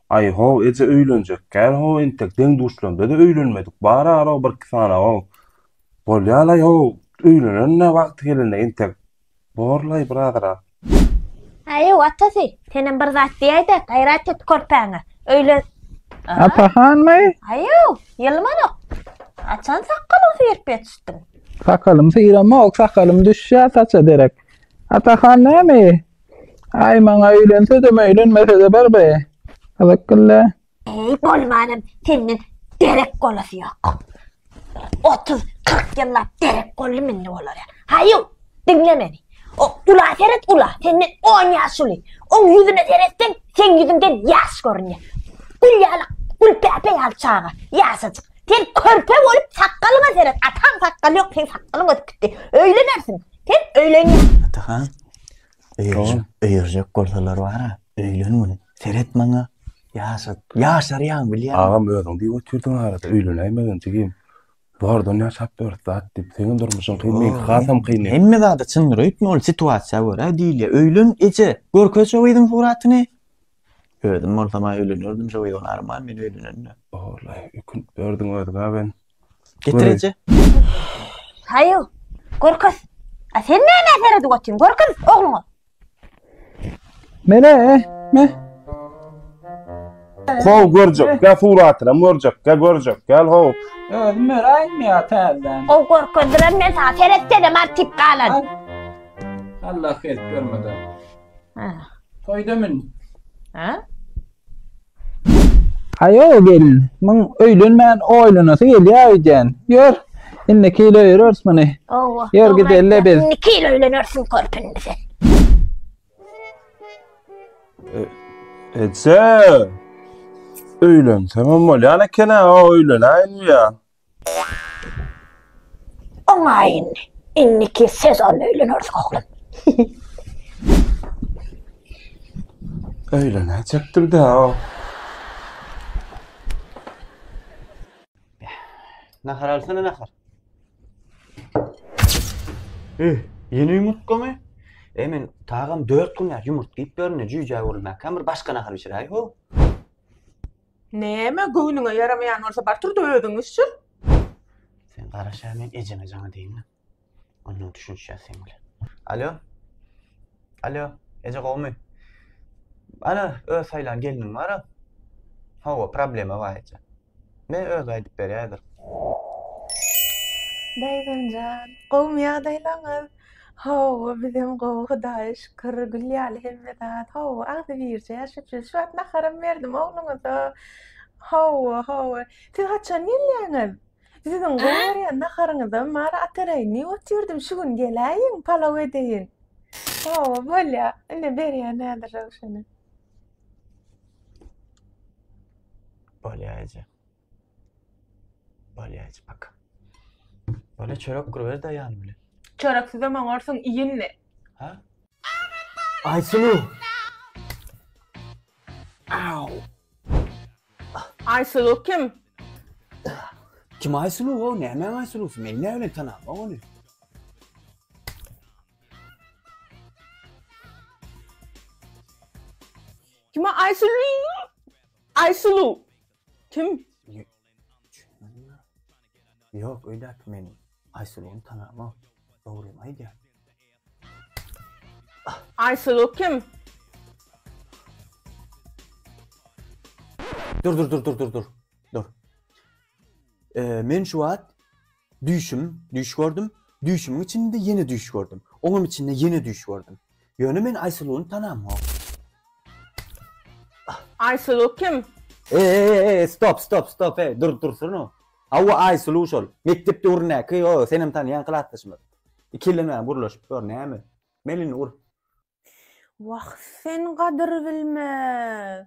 Aý, how, eje öýlenjek kän, how, entek deň-duşlarymda-da öýlenmedik, bar-ara birki sany, how, bolýa-laý, how, öýlenerin-ä wagty gelende, entek, bor-laý, birazrak. Aý-ew, atasy, senem bir zat diýäý-dä, gaýrat et körpäňe, öýlen, a. Ata hanmy? Aý-ew, ýylmanok, haçan sakgalyňy syryp ýetişdiň? Sakalym syramok, sakalym düşýä saça derek. Ata han näme? Ay maňa öýlensedem öýlenmesede barbe. Gyzyk gylle. Eý bolmanam senden derek bolasy ýok. Otuz, kyrk ýyllap derek bolly mende olara. Haýu, diňle meni. O ula seret ula, senden on ýaş uly. Oň ýüzüne seretseň, seň ýüzüňden ýaş görünýär. Gül ýaly, gülpäpe ýaly çaga, ýaşajyk. Sen körpe bolup sakgalyňa seret, ataň sakgaly ýok, seň sakgalyň ösüp gitdi. Öýlenersiň. Sen öýlenýän. Atahan, Öýerjek, öýerjek bolsalar bara, öýlen gün. Seret maňa, ýaşat, ýaşarýaň bilýän. Agam özüň diýip otyrdyň arada, öýlenäýmegin jigim. Bardan ýaşap ýörüs zat diýip, seniň durmuşyň kyn, meňki hasam kyn. Hemme zada çyndyr öýtme, ol situasiýa görä diýilýär. Öýlen eje, görkez şo gyzyň suratyny. Özüm bolsam-a öýlenerdim şo gyz, ony arman men öýlenende. Ollaý, ökünip ýördüň özüňe ben. Getir eje. Haýo, Gorkut. A sen näme seredip otyň? Gorkut, ogluňa. Mene, me. How görjek, gel suratyna görjek, gel görjek, gel how. Özüm öräýim ýa täzeden. O gorkut bilen men sana seretsenem artyp galan. Allah hep görmedi. Ha. Toýda mün. Ha? Aýo gelin, muň öýlenmän oýlanasy gelýär öýdýän. Ýör, indiki ýyl öýereris muny. Hawa, Ýör dogry gideli aýtýaň. biz. Indiki ýyl öýlenersiň körpüni indi sen. Eje! Öýlensemem bolýan eken-ä, o öýlenäýinmi ýa? Oňaýyn, indiki sezon öýleneris oglum. Öýlenäýjekdir-dä-ow. Nahar alsana nahar. E, ýene ýumurtgamy? E, men tagam dört gün ýa ýumurtga iýip ýörün-dä, jüýjä öwrülmäkäm, bir başga nahar bişiräý-how. Näme, göwnüňe ýaramaýan bolsa bar tur-da özüň iş çyz. Sen garaş-a, men ejeňe jaň edeýin-le. Ondan düşünişýäs seň bilen. Alo? Alo, eje gowumy? Ana, öz saýlan gelnim bar-a. Hawa, problema bar eje. Men özi aýdyp berýär-dir. Daýzamjan, gowumy ýagdaýlaryňyz? Hawa, bizem gowy, Hudaýa şükür. Gül ýaly hemme zat. Hawa, agzybirje, şükür. Şu wagt naharam berdim ogluňyza. Hawa, hawa. Siz haçan gelýäňiz? Siziň gowy A? görýän naharyňyzam bar, Atareýin. Diýip otyrydym, şu gün geläýiň, palaw edeýin. Hawa, bolýar. Ine, berýän häzir Röwşene. Bolýar eje. Balýaç bak. Bana çörek gurber de ýan bile. Çörek size maňarsyn iýindi. Ha? Aýsulu. Au. Aýsulu kim? Kim Aýsulu o? Näme Aýsulu? Men näme bilen tanap ony? Kim Aýsulu? Aýsulu. Kim? Ýok, öýdäki men Aýsulugyny tanamok. Dogrymy aýdýar. Aýsulu kim? Dur, dur, dur, dur, dur, dur. Dur. Men şu wagt Düýşüm, düýş gördüm. Düýşümiň içinde ýene düýş gördüm. Oňam içinde ýene düýş gördüm. Ýöne men Aýsuluny tanamok. Aýsulu kim? E-e-e-e, stop, stop, stop, e, dur, dursana. Hawa, Aýsulu şol. Mekdep döwründäki, o, senem tanýan klasdaşymyz. Ikilenmän gürleşip ýör, näme? Men indi ur. Wah, sen gadyrbilmez!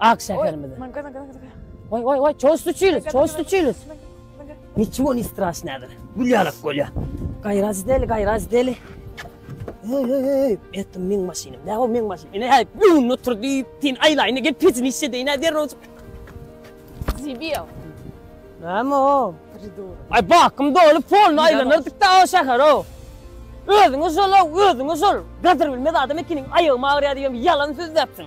Ak şäherimize. Oý, oý, oý, çoý stuçilis, çoý stuçilis. Niçigo ni straşnädir. Gül ýalak bolýa. Gaýraz deli, gaýraz deli. Oý, oý, oý, etdim meň maşynym. Nä o meň maşyn? Ine häp, öňünde otur diýip, sen aýlaýyny gel pejini işe deýin, hä derrew. Zibiýa. Näme o? Pridur. Aý, bakym doly polny aýlanardyk da o şäher o. Özüňe şol, özüňe şol. Gadyr bilmez adam ekeniň, aýagym agyrýa diýem, ýalan söz däpsiň.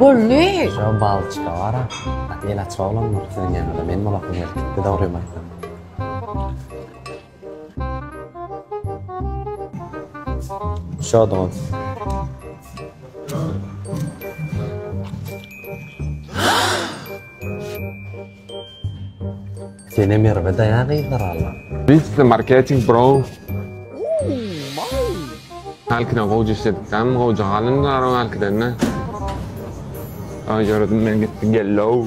Bolly! Şo balçyka bar-a, gaty elaç oglandyr. Siziň ýanyňyza men bolasym gelip gitdi, dogrymy aýtsam. Şo dogan. Sene Merwe daýa gyzlar alla. Blitz marketing bro. Halkiden gowja işledik dam gowja galyn gara halkidende. Ay ýaradym men gitdi gellow.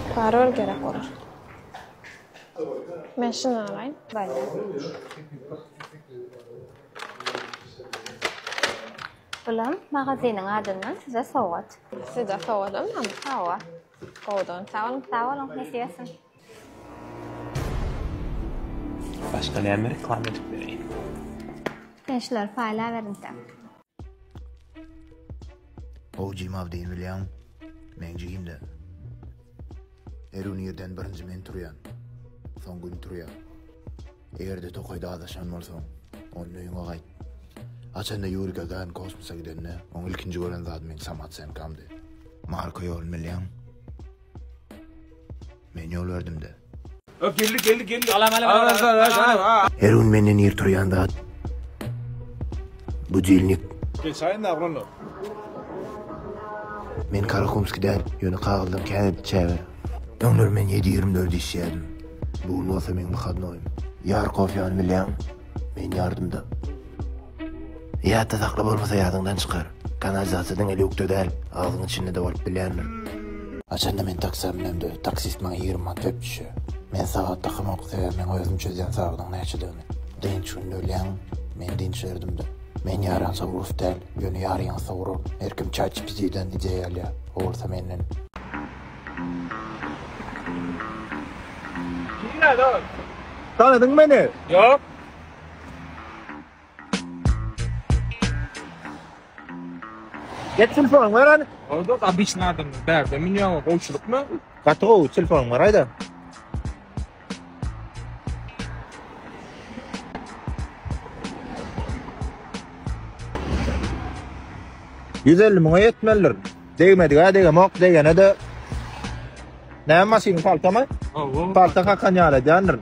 Parol gerek olar. Men şunu alaýyn. Baýda. Bulam magazynyň adyndan size sowgat. Size sowgadam hem? Hawa. Gowudan sag boluň, sag boluň, nesip etsin. Başga näme reklama edip bereýin? Sen şulary paýlap erinseň. How Jim How deyin bilýäň? Men jiginde. Erun ýerden birinji men turýan. Soň gün turýa. Eýerde tokaýda azaşan bolsaň, on öýüňe gaýt. Açanda Yuri Gagarin kosmosa gidende, oň ilkinji gören zady men Samat Senkamdy. Marka ýolun bilýäň? Men ýol berdim-de. Ö, geldi, geldi, geldi. Salam, salam, Aa, salam, salam, salam, salam. Her gün menden ir turýan zat. Budilnik. Geçaýyn da aglan. Men Karakumski däl, ýöne kagyzdan käbir çäge. Öňler men 7-24 işýärdim. Bu gün bolsa meň wyhadnoýym. Ýarkow ýany bilýäň, men ýardymda. Ýatda sakla bolmasa ýadyňdan çykar. Kanalizasiýa diňe lýukda däl, agzyň içinde-de bolup bilýändir. Haçanda men taksä münemde, taksist maňa ýigrimi manat berip düşýär. Men sagat dakamok, sebäbi meň özüm çözýän sagadyň näçedigini. Dynç günde ölýäňmi? Men dynç berdim-de. Men ýaransa urus däl, ýöne ýarýansa urur. Her kim ChatGPT-den ideýa alýar, o bolsa menden. Nirä, dost? Tanadyňmy meni? Ýok. Get telefon ver hadi. Orada obычny adam bärde münýä o gowçulykmy? Gaty gowy telefon ver aýda. Ýüz elli müňe ýetmelidir. Degmedigä degemok, degene-de Näme maşyn, paltamy? Hawa. Palta kakan ýaly edýändirin.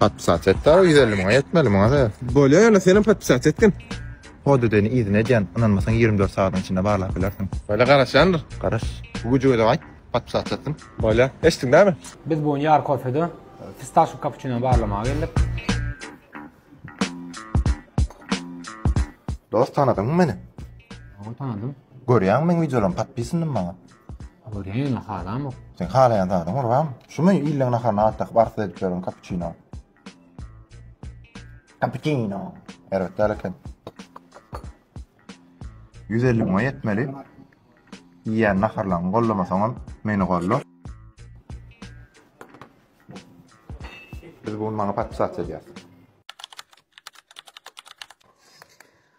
Podpisat et dagı ýüz elli müňe ýetmeli muňa sebäp. Bolýa ýöne senem podpisat etgin. Podedeni yzyna edýän ynanmasaň ýigrimi dört sagadyň içinde barlap bilersiň. Bolýa garaşýandyr. Garaş. Bu güjüge de gaýt podpisat etsin. Bolýa. Eşitdiň dämi? Biz bu gün Ýar kofede fistaşo kapuçinony barlamaga geldik. Dost tanadyňmy meni? Hawa tanadym. Görýäňmi meň wideolarymy podpisindimi maňa? Görýän-ä halamok. Seň halaýan zadyň gurbam, şumy illeň naharyny at dakyp arzuw edip ýören kapuçino? Kapuçino. Erbet däl eken. Ýüz elli müňe ýetmeli. Iýýän naharlaryňy gollamasaňam, meni golla. Biz bu gün maňa podpisasiýa edýäris.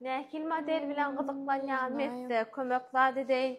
Nähili model bilen gyzyklanýan Mekde kömek zat edeýin.